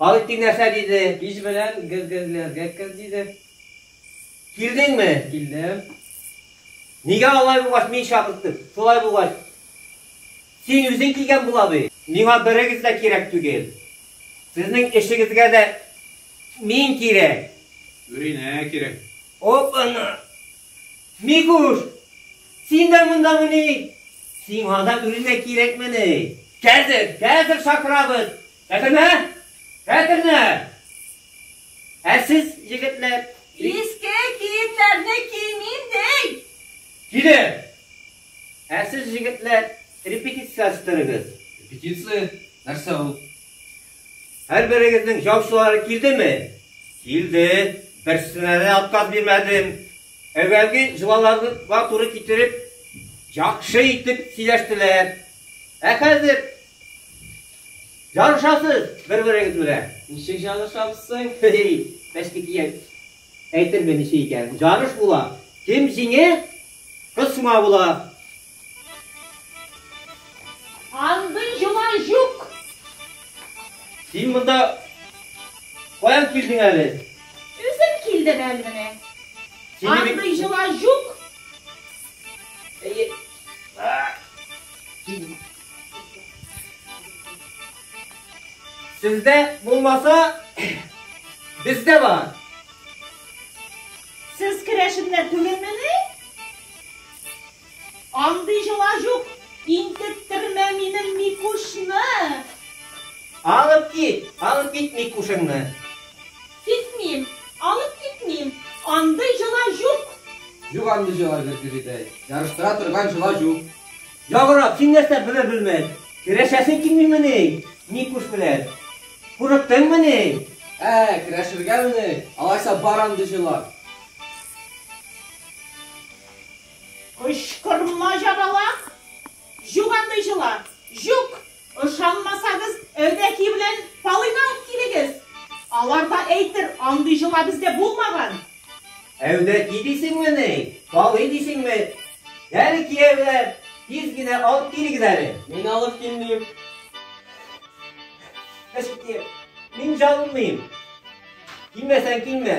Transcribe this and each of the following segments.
Алетдин нәрсә диде? Кич белән гергерләргә кер диде. Килдеңме? Килдем. Нигә алай булгач мин чакырттым? Шулай булгач, син үзең килгән була бит. Миңа берегез дә кирәк түгел. Сезнең эшегезгә дә мин кирәк. Үринә кирәк. Оп, ана! Микуш! Син дә мондамыни? Сиңа да үрелмә кирәкмени? Хәзер, хәзер чакырабыз! Хәтернә! Хәтернә! Ә сез, егетләр? Иске киемнәрне киим инде! Килер! Ә сез, егетләр? Репетиция астырыгыз. Репетиция? Нәрсә ул? Һәр берегезнең җаусылары килдеме? Килде. Берсенә дә отказ бирмәдем. Әүвәлге җылаларга туры китереп, яхшы итеп сөйләштеләр. Ә хәзер ярышасыз бер-берегез белән. Ничек ярышабыз соң? Бәшки кият. Әйтермен ничек икән. Ярыш була. Кем җиңә, кысма була. Андый җолай җук! Син монда каян килдең әле? Үзем килдем әле менә. Андый җолай җук! Сездә булмаса, бездә бар. Сез керәшеннәр түгелмени? Андый җола җук! Интектермә минем Микушны! Алып кит! Алып кит Микушыңны! Китмим! Алып китмим! Андый җола җук! Җук андый җола җук, Гөлидәй. Ярыштыра торган җола җук. Яграк, син нәрсә белер белмәс, керәшәсең килмимени Микуш белән? Курыктыңмыни? Ә, керәшергәмени? Алайса бар андый җола! Кычкырма җабала, җук андый җыла, җук! Ышанмасагыз, Әүдәки белән Палыйны алып килегез. Алар да әйтер, андый җыла бездә булмаган. Әүдәки дисеңме ни, Палый дисеңме? Әле кияүләр, тиз генә алып килегез әле. Мин алып килмим. Эш китә. Мин җалынмыйм. Килмәсәң килмә.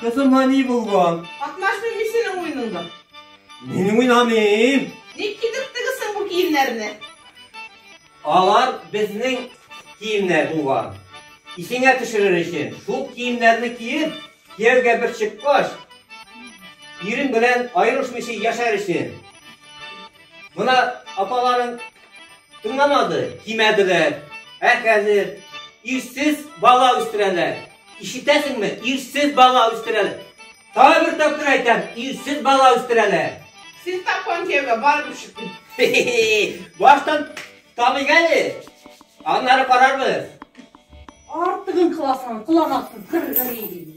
Кызыма ни булган? Катнашмыйм мин синең уеныңда. Мин уйнамыйм. Ник кидерттегесең бу киемнәрне? Алар безнең киемнәр булган. Исеңә төшерер өчен шул киемнәрне киеп, кияүгә бер чыккач, ирең белән аерылышмыйча яшәр өчен. Мына апаларың тыңламады, кимәделәр. Ә хәзер ирсез бала үстерәләр. Ишетәсеңме, ирсез бала үстерәләр. Тагы бер тапкыр әйтәм, ирсез бала үстерәләр. Сез тапкан кияүгә барып шыкмый. Баштан табыйк әле. Аннары карарбыз. Артыгын кыласың, кыланасың, кыр-гыр иде.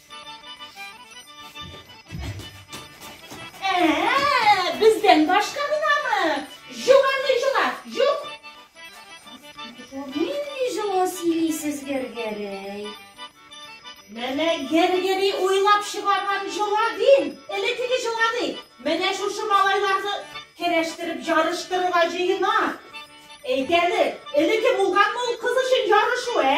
Ә-ә-ә, бездән башка гынамы? Җуганы җула, җук. Нинди җылы сөйлисез Гергерей? Менә Гергерей уйлап чыгарган җола дим. Элекеге җола ди. Менә шушы малайларны керәштереп ярыштырырга җыена. Әйдәле, элеке булганмы ул кыз өчен ярышу, ә?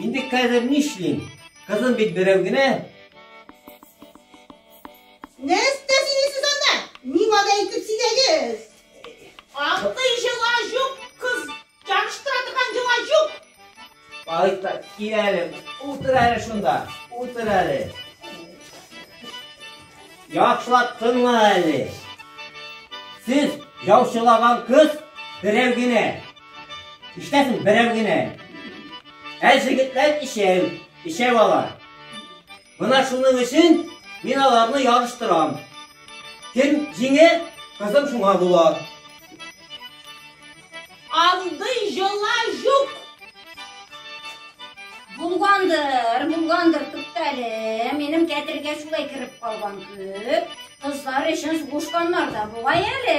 Инде хәзер нишлим? Кызым бит берәү генә. Нәрсә сине сез анда? Миңа да әйтеп сидәгез. Андый җыла юк, кыз яныштыра торган җыла юк. Алыйта, кил әле, утыр әле шунда, утыр әле. Яхшылап тыңла әле. Сез яучылаган кыз берәү генә. Ишетәсең, берәү генә. Ә җегетләр ишәү, ишәү ала. Менә шуның өчен мин аларны ярыштырам. Кем җиңе, кызым шуңа була. Андый җола юк. Булгандыр, булгандыр, туктале. Минем кәтергә шулай кереп калган күп. Кызлар өчен сугышканнар да була әле.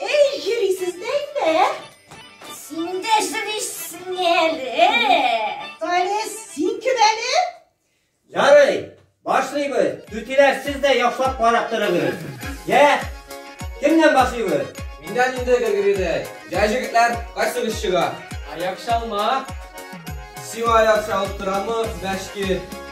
Эй, җөрисез дә инде, ә? Син дә җөрисең әле. Таня, син кем әле? Ярый, башлыйбыз. Түтиләр, сез дә яхшылап карап торыгыз. Йә, кемнән башлыйбыз? Миндән инде Григоридәй. Йә, җегетләр, кайсыгыз чыга? Аяк чалма. Сиңа аяк чалып торамы, мәшки?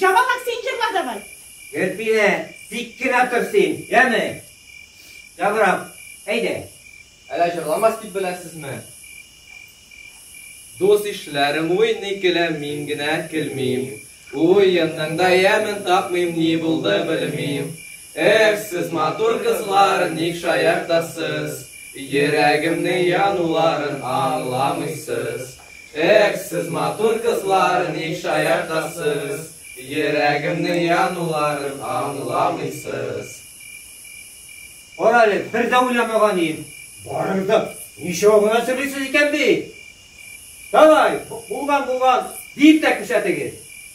Җавабак син җырла давай. Гөлпинә, тик кенә тор син, яме? Ябырам, әйдә. Әлә җырламас дип беләсезме? Дус ишләрем уйный көлә, мин генә көлмим. Уенның да ямен тапмыйм, ни булды белмим. Эх, сез матур кызлар, ник шаяртасыз? Йөрәгемне януларын аңламыйсыз. Эх, сез матур кызлар, ник шаяртасыз? Йөрәгемне януларын аңламыйсыз. Карале, бер дә уйламаган идем. Барырдык, ничего гына сөйлисез икән бит. Давай, булган булган, дип тә күрсәтегез.